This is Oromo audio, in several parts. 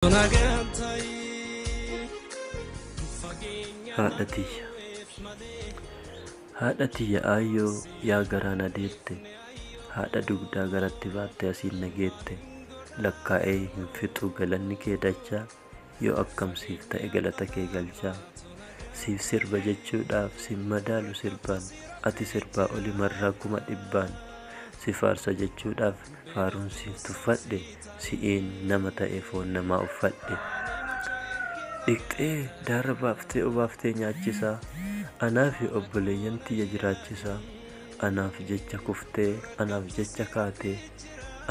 Nagaan ta'i fageenya haadha malee tiyya weef malee haadha tiyya aayyoo yaa garaa na deette haadha dugdaa garatti baattee asiin na geette lakkaa'ee hin fixu galanni kee dachaa yoo akkam siif ta'e galata kee galchaa siif sirba jechuudhaaf sin madaalu sirbaan ati sirbaa oli marraa kuma dhibbaan si faarsa jechuudhaaf Faaruun siif tuffadhe Si'iin nama ta'e foon namaa uffadhe Dhiqxee daarra baaftee obaaftee nyaachisaa Anaafi obboleeyyan tiyya jiraachisaa Anaaf jecha kuftee anaaf jecha kaatee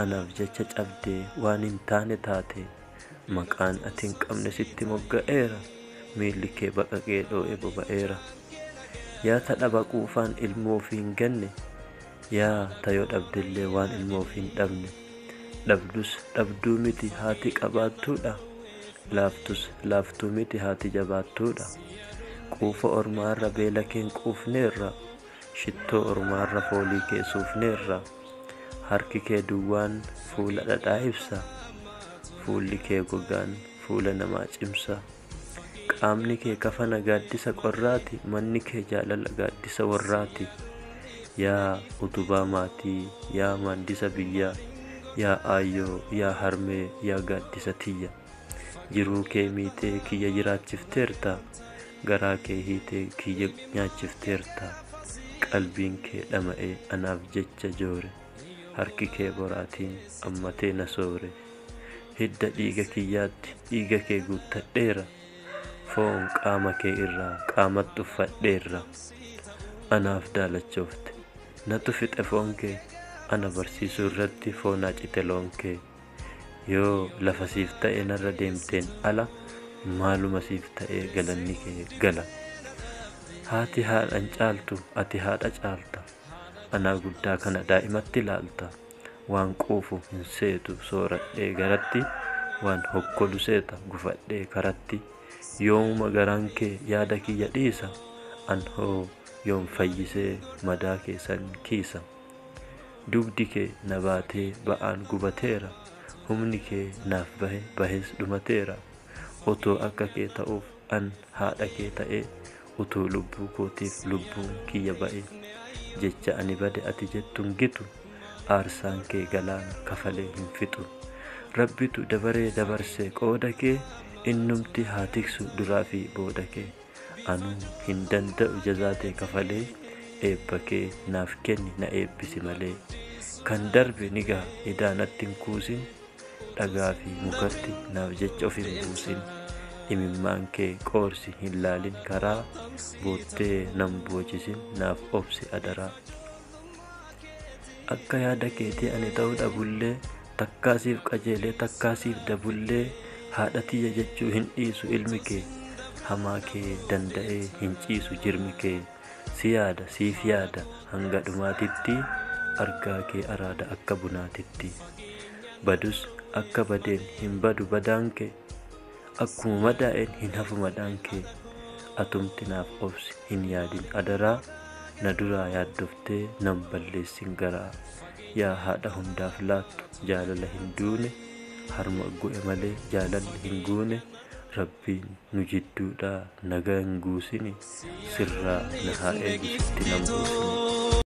Anaaf jecha cabdee waan hin taane taatee Maqaan ati hin qabne sitti mogga'eera Miilli kee baqaqee dhoo'ee boba'eera Yaa ta dhaba quufaan ilmoo ofii hin ganne Yaa ta yoo dhabdellee waan ilma ofii hin dhabne dhabdus dhabduu miti haati qabaattuudha laaftus laaftuu miti haati jabaattuudha quufa ormaa irra beela keen quufneerra shittoo ormaa irra foolii kee suufneerra harki kee duwwaan fuula dhadhaa ibsa fuulli kee gogaan fuula namaa cimsa Qaamni kee kafana gaaddisa qorraati Manni kee jaalala gaaddisa warraati Yaa utubaa maatii yaa maaddisa biyyaa Yaa aayyoo yaa harmee yaa gaaddisa tiyya Jiruu kee miitee kiyya jiraachifteerta Garaa kee hiitee kiyya nyaachifteerta Qalbiin kee dhama'ee anaaf jecha joore Harki kee boraatiin ammatee na soore Hidda dhiiga kiyyaatti dhiiga kee guuttadheera, foon qaama kee irraa qaamatti uffadheerra. Anaaf daalachoofte, natu fixe foon kee, ana barsiisuu irratti foon hacite loon kee. Yoo lafa siif ta'ee narra deemteen ala maaluma siif ta'ee galanni kee gala. Haati haadhan caaltu ati haadha caalta, anaa guddaa kana daa'imatti ilaalta. Waan quufu hin seetu sooradhee garatti Waan hokkolu seeta gufadhee karatti Yoomuma garaan kee yaada kiyya dhiisa An hoo yoom fayyisee madaa kee san kiisa Dugdi kee na baatee ba'aan gubateera Humni kee naaf bahe bahees dhumateera Otoo akka kee ta'uuf an haadha kee ta'ee utuu lubbuu kootiif lubbuun kiyya ba'e jecha ani bade ati jettu hin gitu aarsaan kee galaana kafalee hin fixu rabbitu dabaree dabarse qooda kee innumti haa tiksu duraa fi booda kee anuu hin danda'u jazaa tee kafalee eebba kee naaf kenni na eebbisi malee kan darbe ni gaha idaa natti hin kuusin dhagaa fi mukatti naaf jecha of hin buusin imimmaan kee qoorsi hin laalin karaa boottee nan boochisin naaf obsi adaraa akka yaada keetii ani ta'uu dhabullee takkaa siif qajeelee takkaa siif dabullee haadha tiyya jechuu hin dhiisu ilmi kee hamaa kee danda'ee hin ciisu jirmi kee Si yaada siif yaada hanga dhumaatitti Argaa kee araada akka bunaatitti Badus akka badeen hin badu badaan kee Akkuma madaa'een hin hafu madaan kee Atumti naaf obsi hin yaadin adaraa Na duraa yaaddoftee nan balleessin garaa Yaa haadha hundaaf laattu jaalala hin duune Harma gu'e malee jaalalli hin guune Rabbiin nu jidduudhaa nagaa hin guusini sirraa na haa eegu sitti nan buusini.